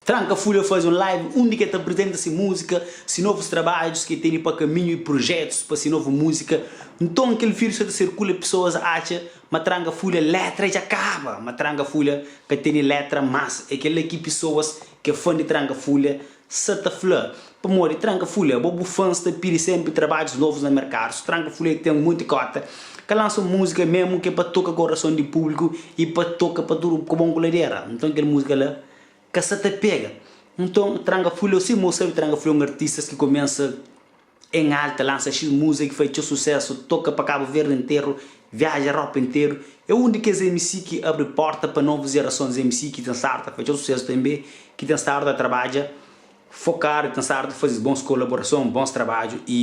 Tranca Fúria faze un live undi ki el ta aprizenta se múzika, se novus trabadjus ki el tene pa kaminhu i prujétus pa se novu múzika. Nton, kel vírius sta ta sirkula i pesoas atxa ma Tranca Fúria létra dja kaba. Má Tranca Fúria ka tene létra más. É kel-la ki pesoas ki é fã di Tranca Fúria Sa ta fla, pamodi Tranka Fulha, bo bu fans ta pidi senpri trabadjus novus na merkadu, so Tranka Fulha ki ten monti kota, ka lansa un muzika mesmu ke pa toka korason di publiku i pa toka pa tudu ku bon ku ladera, nton kel muzika la ka sa ta pega, nton Tranka Fulha, si mo sabe Tranka Fulha é un artistas ki komensa. En alta lansa xis muza ki fai txeu susesu, toka pa Kabu Verdi interu, viaja Europa interu. É un di kes MC ki abri porta pa novus jerasons MC ki ten sardu ta fai txeu susesu tenbe, ki ten sardu ta trabadja fokadu i ten sardu ta fazi bons kolaborason, bons trabadju i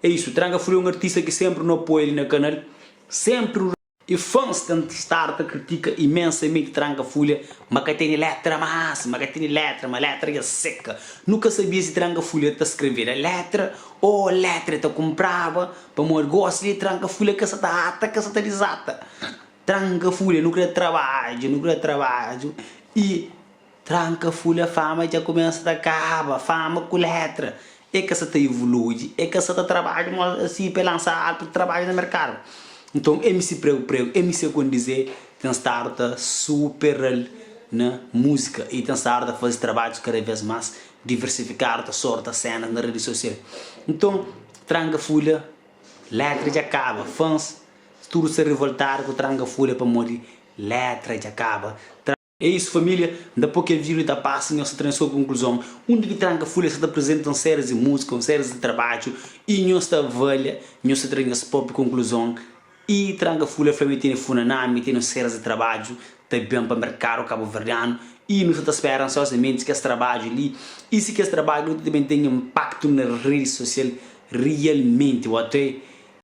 é isu. Tranka Fru é un artista ki senpri nu apoia li na kanal, senpri. E fans ten stadu ta kritika imensamente Tranca Fulha ma ka tene letra mas, ma ka tene letra ma, letra dja seka. Nu ka sabia si Tranca Fulha ta skrevera letra o letra e ta kunpraba, pamodi gosi li Tranca Fulha ka sa ta ata, ka sa ta dizata. Tranca Fulha nu kre trabadju, nu kre trabadju e Tranka fúlia fama dja kumesa ta kaba fama ku létra e ka sa ta ivului e ka sa ta trabadju mó si pa e lansa alpu trabadju na merkadu nton mc pregu pregu mc kon dizê ten stadu ta superal na múzika i ten stadu ta faze trabadjus kada vez más diversifikadu ta sorta sénas na redi sosial nton tranka fúlia létra dja kaba fans tudu sta rivoltadu ku tranka fúlia pamodi létra dja kaba. É isu família, N ta pô kel vídiu li ta pasa, nhos ta tra-m sô konkluzon. Un di ki tranka fule, es sa ta aprizenta un séries di múzika, un séries di trabadju i nhos ta avalia, nhos ta tra nhos própi konkluzon. I tranka fule fla-m i tene Funaná, mi tene un séries di trabadju ta ben pa merkadu kabuverdianu i nu sa ta spera ansiozamenti kes trabadju li. I si kes trabadju li ta ben ten inpaktu na redi sosial rialmenti, ote.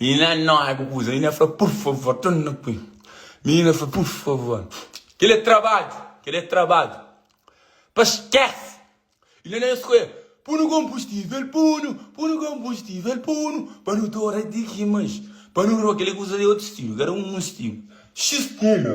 Minina nova ku kuza minina fla pur favor ton na pui minina fla pur favor kel é trabadju kel é trabadju pa skes ina na skoe punu konbustivel punu punu konbustivel punu pa nu ta ora di ki mas pa nu ro kel é kuza é otu stilu kel era un stilu xistina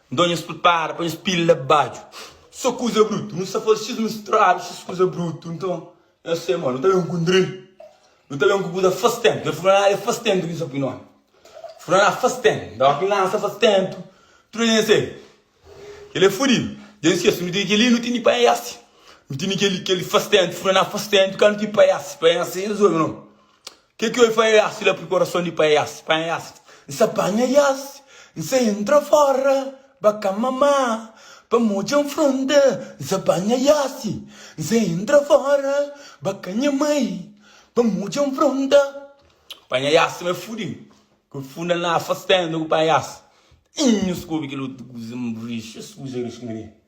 Nton nhos pripara pa nhos pila la baxu so kuza brutu. Nu sta faze xis mistradu, xis kuza brutu. Nton nhos fla ma, nu ta ben ku un drill, nu ta ben ku kuza fas ténpu. El fla, Aa, é fas ténpu ki nu sta pui nómi. N fla, Aa, fas ténpu. Nton óki N lansa fas ténpu, tudu algen sai. Kel-li é fudidu. Dja N skese, nu tene kel-li, nu tene di panhese. Nu tene kel-li, kel-li fas ténpu. Fla, Aa, fas ténpu ka nu tene di panhese. Panhese é resolve nomi. Ke ki oi fai yas la priparason di pai yas panha yas N sa panha yas N sa entra fora ba ka mama pa modja N fronta N sa panha yas N sa entra fora ba ka nha mai pa modja N fronta panha yas ma fudi ku funda na afastando ku panha yas Nhos ku obi kel otu kuza N rixa es kuza rixa mane.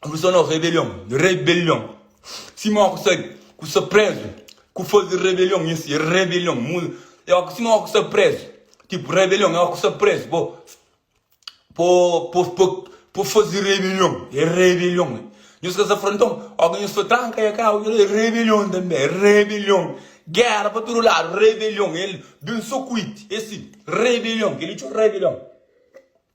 Ku so nos rebelion, rebelion Sima oku sa ku sa prezu Ku faze rebelion nha si rebelion Mu é oku sima oku sa prezu Tipu rebelion é oku sa prezu Bo po po po po faze rebelion É rebelion é Nhos ka sa fronton Oku nhos fla tranka é ka oku É rebelion tanbe é rebelion Gera pa tudu ladu rebelion El ben so kuiti é si rebelion Kel-li txu rebelion.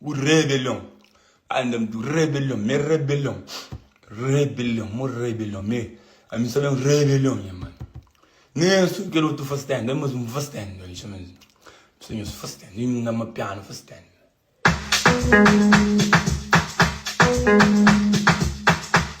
Bu rebelion andam tu rebelion me rebelion rebelion mo rebelion me ami sa ben rebelion nha mano nem asun kel otu faz tenda é mas um faz tenda li chama es pesa nhos faz tenda e nhos ama piano faz tenda.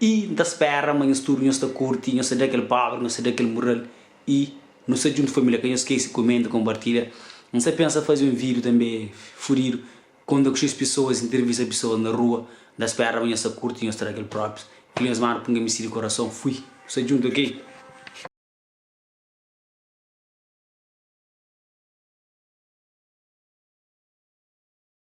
I N ta spera ma nhos tudu nhos ta kurti, nhos ta da kel póbri, nhos ta da kel mural i nu sta djuntu família. Ka nhos skese kumenta, konpartilha. N sta pensa faze un vídiu tanbê fudidu, konta ku xis pesoas, intervista pesoas na rua. N ta spera ma nhos ta kurti, nhos ta da kel própis. Kel nhos manda p'un kmisi di korason. Fui. Nu sta djuntu ok.